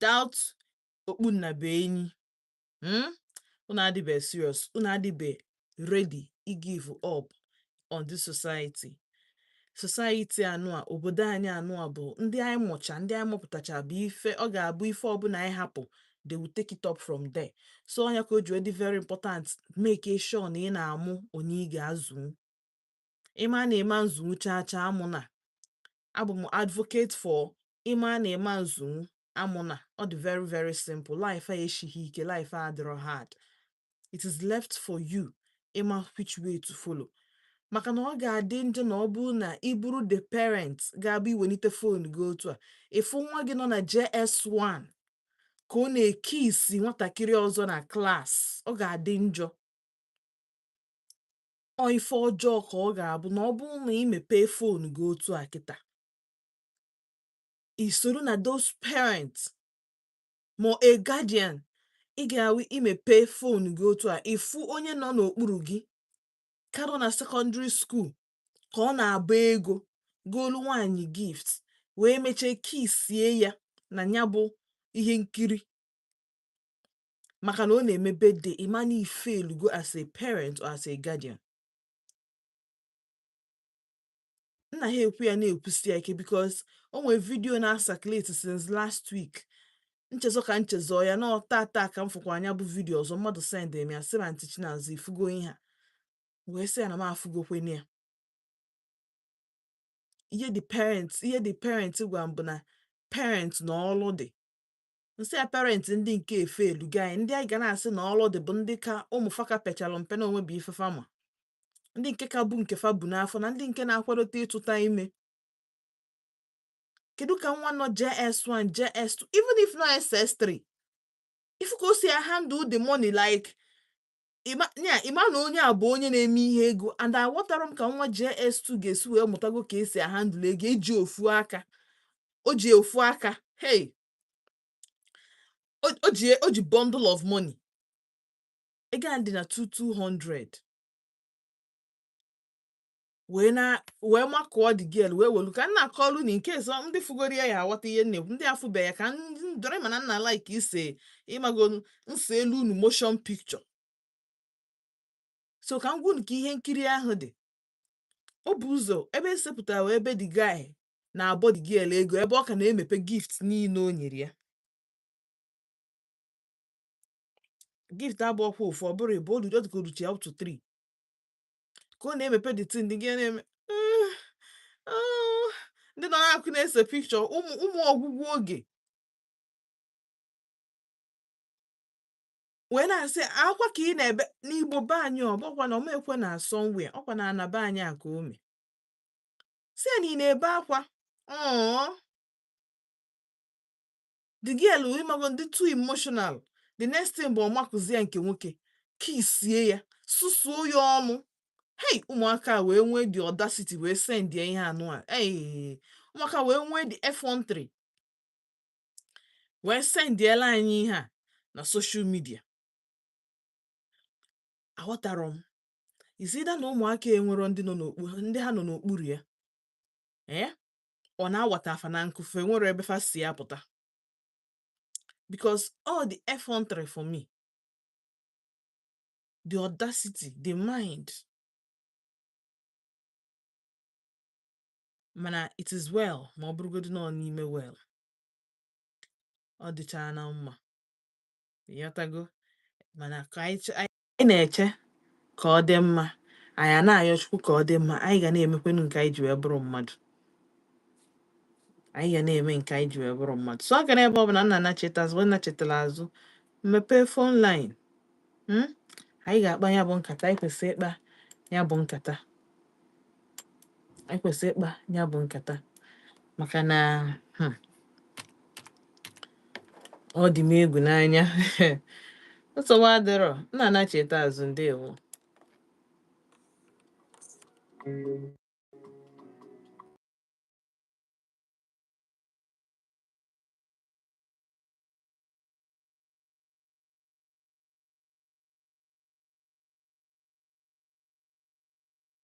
without okpu nnabuenyi hmm? unu adịbe serious unu adịbe ready ị give up on this society society anụa obodo anyị anụa bụ ndị anyị mụcha ndị anyị mụpụtacha bụ ife ọ ga-abụ ife ọbụla anyị hapụ they will take it up from there so ọ nya ka o ji dị very important make sure na ị na-amụ onye ị ga-azụ ịma na ịma nzụnwu chaa chaa amụna abụ m advocate for ịma na ịma nzụnwu amụna ọ dị very very simple life a esighị ike life a adịrọ hard it is left for you ịma which way to follow maka na ọ ga-adị njọ na ọ bụrụ na ị bụrụ the parent ga-abụ i welite fon gị otu a ị fụ nwa gị nọ na JS1 ka ọ na-ekisi nwatakịrị ọzọ na klas ọ ga-adị njọ ọ ife ọjọọ ka ọ ga-abụ na ọ bụrụ na ị mepee fon gị otu a kịta i soro na those parents ma a guardian ị ga-awụ i mepe fon gị otu a ị fụ onye nọ n'okpuru gị ka nọ na sekọndịrị skuul ka ọ na-agba ego golu nwaanyị gift wee mechaa kisie ya na nya bụ ihe nkiri maka na ọ na-eme birthday ị mana ị failugo as a parent or as a guardian m na-ekwu ya na-ekwusi ya ike because o nwere vidiyo na-acirculate since last week m chezọ ka m chezọ ya na ọ tata ka m fụkwaa nya bụ vidiyo ọzọ mmadụ send m ya sị Aunty Chinaza ị fụgo ihe a wee sị ya na m afụgokwanụ ya ihe the parent gwa m bụ na parent na ọlụ dị m sị ya parent ndị nke efailugo ndị anyị ga na-asị na ọlụ dị bụ ndị ka ụmụ fa ka pechalu mpe na o nwebe ife fa ma ndị nke ka bụ nke fa bu n'afọ na ndị nke na-akwadote ịtụta ime kedu ka nwa nọ JS1 JS2 even if nọ SS3 ị fụ ka o si ahandle the money like ịma na onye a bụ onye na-eme ihe ego and aghọtarọ m ka nwa JS2 ga-esi wee mụtago ka e si ahandle ego e ji ofu aka o ji ofu aka hey o ji bundle of money ego a dị na 2200 wee makụọ the girl wee welu ka m na-akọlu na nke a so ndị fụgoro ya ya-aghọta ihe nne ndị afụbe ya ka m draw mana m na-alike ise ị magonu m seelu unu motion picture so ka m gwa unu ka ihe nkiri ahụ dị o bu ụzọ ebe e sepụtara wụ ebe the guy na-abọ the girl ego ebe ọ ka na-emepe gift niile o nyere ya gift abụrọkwa ofu ọ bụrụ ịbụọ olu just go to up to three ka ọ na-emepe the thing the girl na-eme "Mm, oh." ndị nọ n'akụkụ na-ese picture ụmụ ụmụ ọgwụgwụ oge wee na-asị akwa ka ị na-ebe n'igbo be anyị ọ bụkwa na o mekwe na somewhere ọkwa na ana be anyị a ka o me sị ya na ị na-ebe akwa "Ọọ." the girl ị mago ndị too emotional the next thing bụ ọ makụzi ya nke nwoke kissie ya susuo ya ọnụ hei ụmụaka wee nwee the audacity wee sendia ihe nụ a ee ụmụaka wee nwee the effrontery wee sendiela anyị ihe a na social media aghọtara m is it that na ụmụaka enwerọ ndị ha nọ n'okpuru ya ee eh? ọ na awata fa na nkụ fa enwerọ ebe fa si pụta because ọ the effrontery for me the audacity the mind mana it is well ma ọ bụrụgodị na ọ n'ime well ọ dịcha na mma ịghọtago mana ka anyị anyị na-eche ka ọ dị mma anyị a na-ayọ chukwu ka ọ dị mma anyị ga na-emekwenu nke anyị ji wee bụrụ mmadụ anyị ga na-eme nke anyị ji wee bụrụ mmadụ so ọ gara ebe ọ bụ na nna nachita azụ ebe ọ nachitara azụ m mepee phone line mm, anyị ga-akpa ya bụ nkata anyị kwesịrị ịkpa ya bụ nkata anyị kwesịrị ịkpa ya bụ nkata maka na hmm, ọ dị m egwu n'anya nsogbu adịrọ nna nachita azụ ndewo